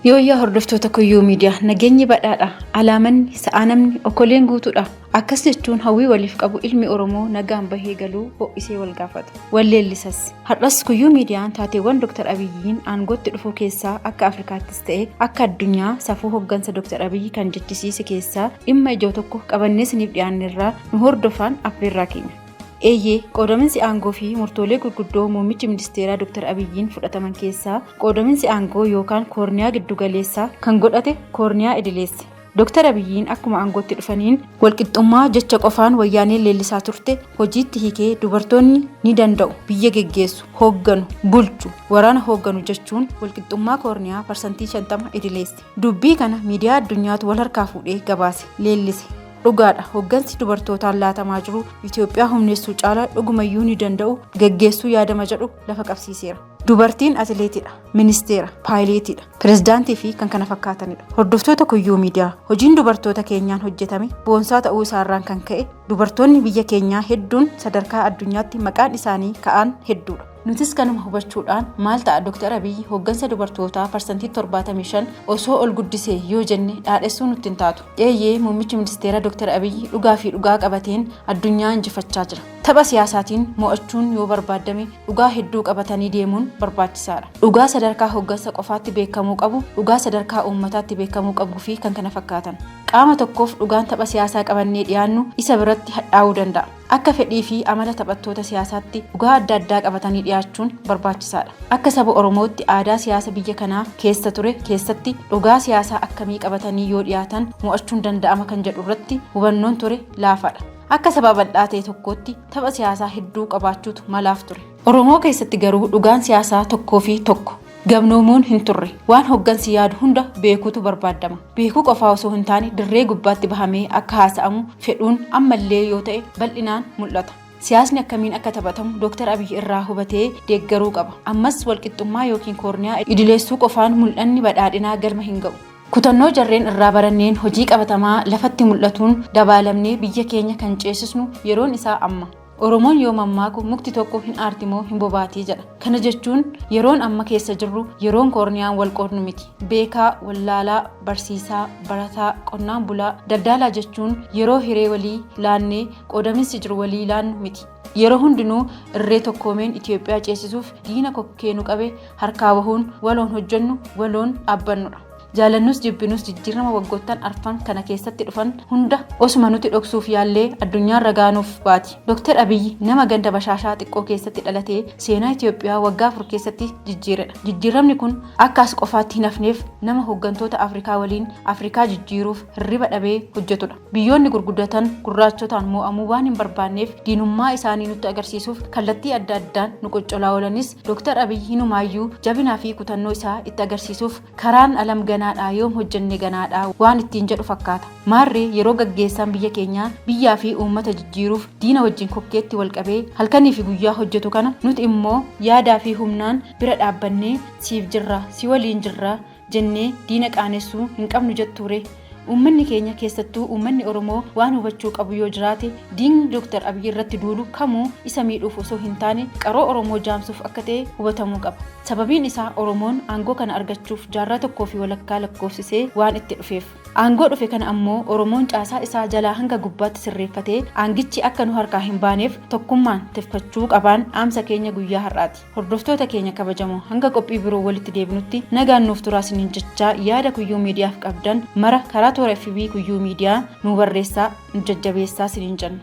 Yooyyaa hordoftoota Kuyyuu Miidiyaa nageenyi badhaadha. Alaamanni, sa'aanamni, okoleen guutuudha. Akkas jechuun hawwii waliif qabu ilmi Oromoo nagaan bahee galuu ho'isee wal gaafata. Wal leellisas. Har'as Kuyyuu Miidiyaan taateewwan Dr. Abiyyiin aangootti dhufuu keessaa akka Afrikaatti ta'e akka addunyaa safuu hoggansa Dr. Abiyyi kan jechisiise keessaa dhimma ijoo tokko qabannee isiniif dhiyaannerraa nu hordofaan affeerraa keenya. Eeyyee, qoodaminsi aangoo fi murtoolee gurguddoo muummichi ministeeraa Dr. Abiyyiin fudhataman keessaa qoodaminsi aangoo yookaan koorniyaa giddugaleessaa kan godhate koorniyaa idileessa. Dooktar Abiyyiin akkuma aangootti dhufaniin walqixxummaa jecha qofaan wayyaaneen leellisaa turte hojiitti hiikee dubartoonni ni danda'u, biyya geggeessu, hoogganu, bulchu, waraana hoogganu jechuun walqixxummaa koorniyaa parsantii 50 idileesse. Dubbii kana miidiyaa addunyaatu wal harkaa fuudhee gabaase, leellise. Dhugaadha hooggansi dubartootaan laatamaa jiru Itoophiyaa humneessuu caala dhugumayyuu ni danda'u, geggeessuu yaadama jedhu lafa qabsiiseera. Dubartiin atileetidha, ministeera, paayileetidha, pirezidaantii fi kan kana fakkaatanidha. Hordoftoota kuyyuu miidiyaa hojiin dubartoota keenyaan hojjetame boonsaa ta'uu isaarraan kan ka'e dubartoonni biyya keenyaa hedduun sadarkaa addunyaatti maqaan isaanii ka'aan hedduudha. Nutis kanuma hubachuudhaan maal ta'a Dr. Abiyyi hooggansa dubartootaa parsantii 75 osoo ol guddisee yoo jenne dhaadhessuu nutti hin taatu. Eeyyee muummichi ministeera Dr. Abiyyi dhugaa fi dhugaa qabateen addunyaa injifachaa jira. Tapha siyaasaatiin mo'achuun yoo barbaaddame dhugaa hedduu qabatanii deemuun barbaachisaadha. Dhugaa sadarkaa hoggansa qofaatti beekamuu qabu, dhugaa sadarkaa uummataatti beekamuu qabuufi kan kana fakkaatan. Qaama tokkoof dhugaan tapha siyaasaa qabannee dhiyaannu isa biratti hadhaa'uu danda'a. Akka fedhiifi amala taphattoota siyaasaatti dhugaa adda addaa qabatanii dhiyaachuun barbaachisaadha. Akka saba Oromootti aadaa siyaasa biyya kanaa keessa ture keessatti dhugaa siyaasaa akkamii qabatanii yoo dhiyaatan mo'achuun danda'ama kan jedhurratti hubannoon ture laafaadha. Akka saba bal'aa ta'e tokkootti tapha siyaasaa hedduu qabaachuutu malaaf ture. Oromoo keessatti garuu dhugaan siyaasaa tokkoo fi tokko. Gamnoomuun hin turre. Waan hoggansi yaadu hunda beekuutu barbaadama. Beekuu qofaa osoo hin taane dirree gubbaatti bahamee akka haasa'amu fedhuun ammallee yoo ta'e bal'inaan mul'ata. Siyaasni akkamiin akka taphatamu Dooktar Abiy irraa hubatee deeggaruu qaba. Ammas walqixxummaa yookiin koorniyaa idileessuu qofaan mul'anni badhaadhinaa galma hin ga'u. Kutannoo jarreen irraa baranneen hojii qabatamaa lafatti mul'atuun dabaalamnee biyya keenya kan ceesisnu yeroon isaa amma. Oromoon yoo mammaaku mukti tokko hin aarti moo hin bobaati jedha. Kana jechuun yeroon amma keessa jirru yeroon koorniyaan wal qoodnu miti. Beekaa, wallaalaa, barsiisaa, barataa, qonnaan bulaa, daldaalaa jechuun yeroo hiree walii laannee qoodaminsi jiru walii laannu miti. Yeroo hundinuu irree tokkoomeen Itoophiyaa ceesisuuf diina kokkee nu qabe harkaa bahuun waloon hojjennu waloon dhaabbannudha. Jaalannus jibbinus jijjiirama waggoottan arfan kana keessatti dhufan hunda osuma nuti dhoksuuf yaallee addunyaan ragaa nuuf baati. Dooktar Abiyyi nama ganda bashaashaa xiqqoo keessatti dhalatee seenaa Itoophiyaa waggaa afur keessatti jijjiiredha. Jijjiiramni kun akka as qofaatti hin hafneef nama hooggantoota Afrikaa waliin Afrikaa jijjiiruuf hirriba dhabee hojjetudha. Biyyoonni gurguddatan gurraachotaan moo'amuu waan hin barbaanneef diinummaa isaanii nutti agarsiisuuf kallattii adda addaan nu qoccolaa oolanis Dooktar Abiy hinumaayyuu jabinaa fi kutannoo isaa itti agarsiisuuf karaan alam ganaadha yoom hojjenne ganaadha waan ittiin jedhu fakkaata. Maarree yeroo gaggeessaan biyya keenyaa biyyaa fi uummata jijjiiruuf diina wajjin kokkeetti wal qabee halkanii fi guyyaa hojjetu kana nuti immoo yaadaa fi humnaan bira dhaabbannee siif jirra, si waliin jirra, jennee diina qaanessuu hin qabnu jettuuree? Uummanni keenya keessattuu uummanni Oromoo waan hubachuu qabu yoo jiraate diigni Dr. Abiy irratti duulu kamuu isa miidhuuf osoo hin taane qaroo Oromoo jaamsuuf akka ta'e hubatamuu qaba. Sababiin isaa Oromoon aangoo kana argachuuf jaarraa tokkoo fi walakkaa lakkoofsisee waan itti dhufeef. Aangoo dhufe kana ammoo Oromoon caasaa isaa jalaa hanga gubbaatti sirreeffatee aangichi akka nu harkaa hin baaneef tokkummaan tifkachuu qabaan dhaamsa keenya guyyaa har'aati. Hordoftoota keenya kabajamoo hanga qophii biroo walitti deebinutti nagaan nuuf turaa isiniin jechaa yaada kuyyuu miidiyaaf qabdan mara karaa toora FB kuyyuu miidiyaa nu barreessaa nu jajjabeessaa isiniin jenna.